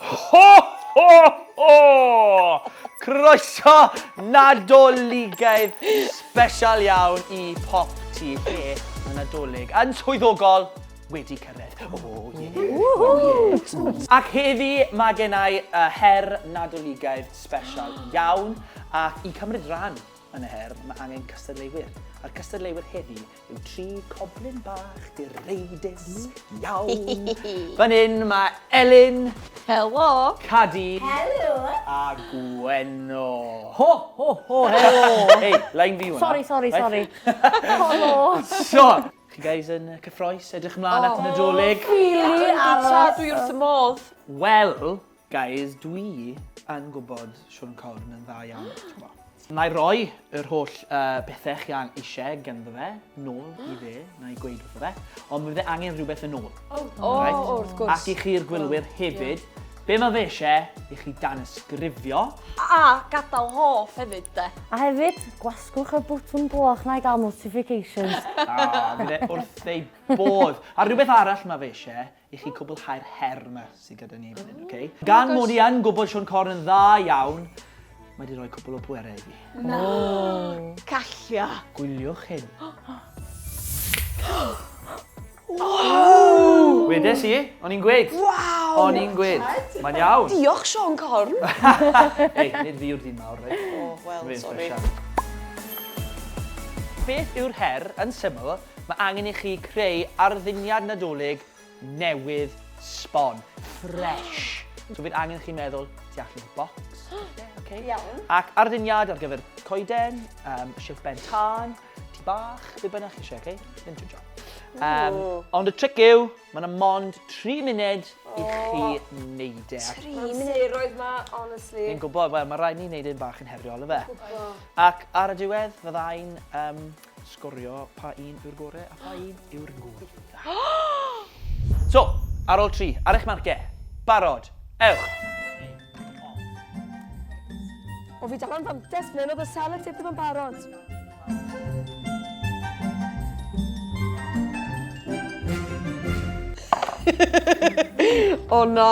Ho! Ho! Ho! Croeso Nadoligaidd sbesial iawn i Pop Ti lle mae Nadolig yn swyddogol wedi cyrraedd. O, ie. Ac heddi mae gen i y her Nadoligaidd sbesial iawn ac i cymryd rhan yn y her mae angen cystadleuwyr a'r cystadleuwyr heddi Yn tri coblyn bach direidus iawn. Fan hyn mae Elin. Helo. Cadi. Helo. A Gwenno. Ho, ho, ho, helo. Hei, line fi hwnna. Sorry, sorry, sorry. Helo. So, chi guys yn cyffroes, edrych ymlaen at y Nadolig? Really, Arlo. Dwi'n wrth y modd. Wel, Guys dwi yn gwybod Siôn Corn yn dda iawn t'bo. Na'i roi yr holl yy bethe chi an- isie ganddo fe nôl i fe, na'i gweud wrtho fe, ond mi fydd e angen rhywbeth yn ôl. O! O! O wrth gwrs. Ac i chi'r gwylwyr hefyd, be' ma' fe isie i chi danysgrifio. A gadal hoff hefyd 'de. A hefyd, gwasgwch y botwm gloch 'na i ga'l notifications. O, bydd e wrth ei bodd. A rhywbeth arall ma' fe isie i chi cwblhau'r her yma sydd gyda ni fan hyn, oce? Okay? Oh Gan mod i yn gwybod Sean Corn yn dda iawn, mae wedi rhoi cwbl o bwerau i fi. Na! Oh. Callio! Gwyliwch hyn. Oh! Wedes i, o'n i'n gweud. Waw! O'n i'n gweud. Mae'n iawn. Diolch, Sean Corn. Ei, nid fi yw'r dyn mawr, reit? Oh, wel, sorry. Beth yw'r her, yn syml, Mae angen i chi creu arddiniad Nadolig newydd sbon, fresh. So bydd angen i chi meddwl tu allan o'r bocs, falle, okay? Iawn. Ac arddiniad ar gyfer coeden, um, shilff ben tân, tŷ bach, be bynnag chi eisiau, okay? Ddim too job. Um, ond y tric yw, mae yna mond 3 munud i chi wneud e. 3 munud? roedd ma, honestly. Fi'n gwybod, wel, mae rhaid ni wneud e'n bach yn heriol, efe. Ac ar y diwedd, fyddai'n um, Sgorio pa un yw'r gore a pha un yw'r gwaetha. So, ar ol tri, ar eich marcie. Barod. Ewch! O fi dal am fantes ble oedd y sellotape ddim yn barod. O na!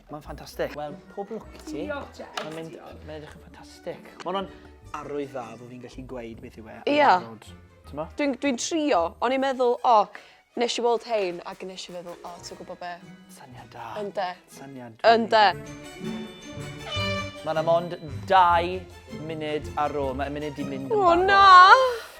Mae'n ffantastig. Wel, pob lwc i ti. Diolch, Jess. Mae'n mynd, mae'n edrych yn ffantastig. Mae'n o'n arwydd dda fod fi'n gallu gweud beth yw e. Ia. Dwi'n dwi trio, o'n i'n meddwl, o, oh, nes i weld hein, ac nes i feddwl, o, oh, ti'n gwybod be? Syniad da. Ynde. Syniad da. Ynde. Mae'n am ond dau munud ar ôl. Mae'n munud di mynd yn barod. O, na!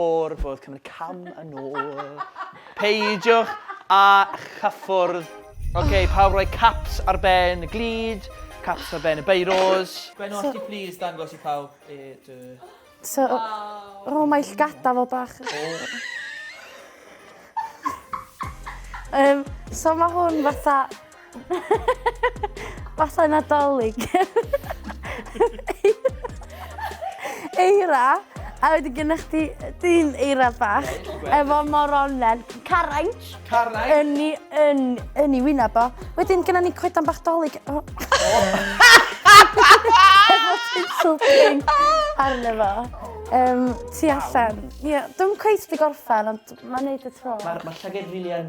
O'r fwrdd cymryd cam yn ôl. Peidiwch â chyffwrdd. Ok, pawb roi caps ar ben y glud, caps ar ben y beiros. Gwen, os ti plîs dangos i pawb e dy... So, o, mae llgada fo bach. Um, so mae hwn fatha Fatha nadolig. Eira, a wedi gynnwch chdi dyn eira bach, efo moronen, carainch. Carainch. Yn ni, yn, yn ni wyna bo. Wedyn gyda ni coedan bach dolig. Oh. efo tinsel pink arno fo. Um, ti allan. Ie, yeah, dwi'n cweith di gorffan, ond mae'n neud y tro. Mae'r ma llyged rili yn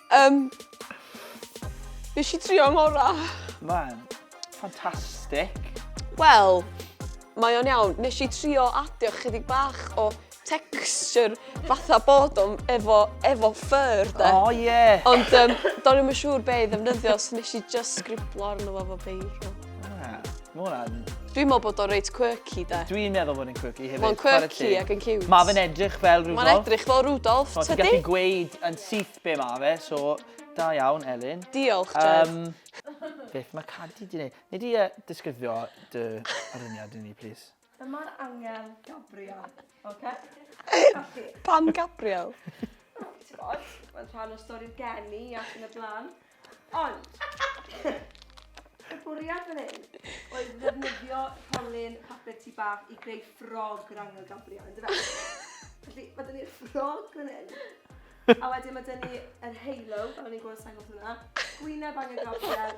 Um, nes i trio ngora. Man, ffantastig. Wel, mae o'n iawn. Nes i trio adio chydig bach o texture fatha bod o'n efo, efo ffyr, de. O, oh, ie. Yeah. Ond um, do'n i'm yn siŵr be i ddefnyddio, so nes i just sgriblo arno fo fo beirw. Dwi'n meddwl bod o reit quirky de. Dwi'n meddwl bod yn quirky hefyd. Mae'n quirky ac yn cute. Mae fe'n edrych fel Rudolf. Mae'n edrych fel Rudolf, tydi? So ti'n gallu gweud yn syth be mae fe, so da iawn, Elin. Diolch, Jed. Um, beth mae Cadi di wneud? Nid i uh, disgrifio dy aruniad i ni, please. Dyma'r angel Gabriel, oce? Felly... Pam Gabriel? Wel, t'mod, mae'n rhan o stori'r geni ac yn y blaen. Ond, y bwriad fan hyn oedd ddefnyddio rholyn papur tŷ bach i greu ffrog yr angel Gabriel, yndyfe? Felly, ma' 'da ni'r ffrog fan hyn, a wedyn ma' 'da ni yr halo, fel o'n i'n gweld y sengl hwnna, gwyneb angel Gabriel,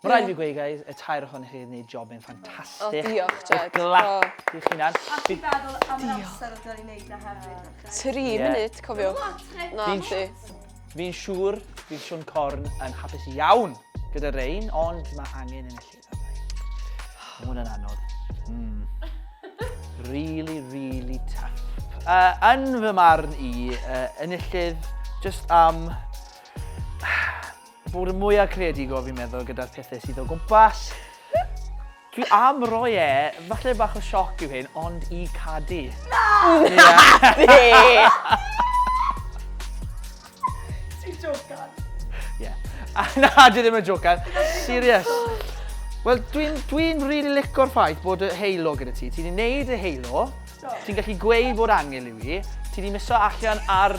Ma raid i fi gweud guys, y tair ohonoch chi wedi gwneud job yn ffantastig. O, diolch, Jed. Glap i chi nan. A ti'n feddwl am yr amser oedd wedi gwneud na hefyd? Tri munud, cofiwch. Na, ti. Fi'n siŵr bydd Siwn Corn yn hapus iawn gyda rein, ond mae angen yn y lle dda. Mae hwnna'n anodd. Mm. Really, really tough. Uh, yn fy marn i, uh, enillydd, just am... Um, Bod yn mwyaf creadigol fi'n meddwl gyda'r pethau sydd o gwmpas. Dwi am roi e, falle bach o sioc yw hyn, ond i cadu. Na! Yeah. Ti'n jocan? Ie. Na, dwi ddim yn jocan. Serious. Wel, dwi'n dwi really licor ffaith bod y heilo gyda ti. Ti wedi gwneud y heilo, ti'n gallu gweud bod angel i fi, ti wedi miso allan ar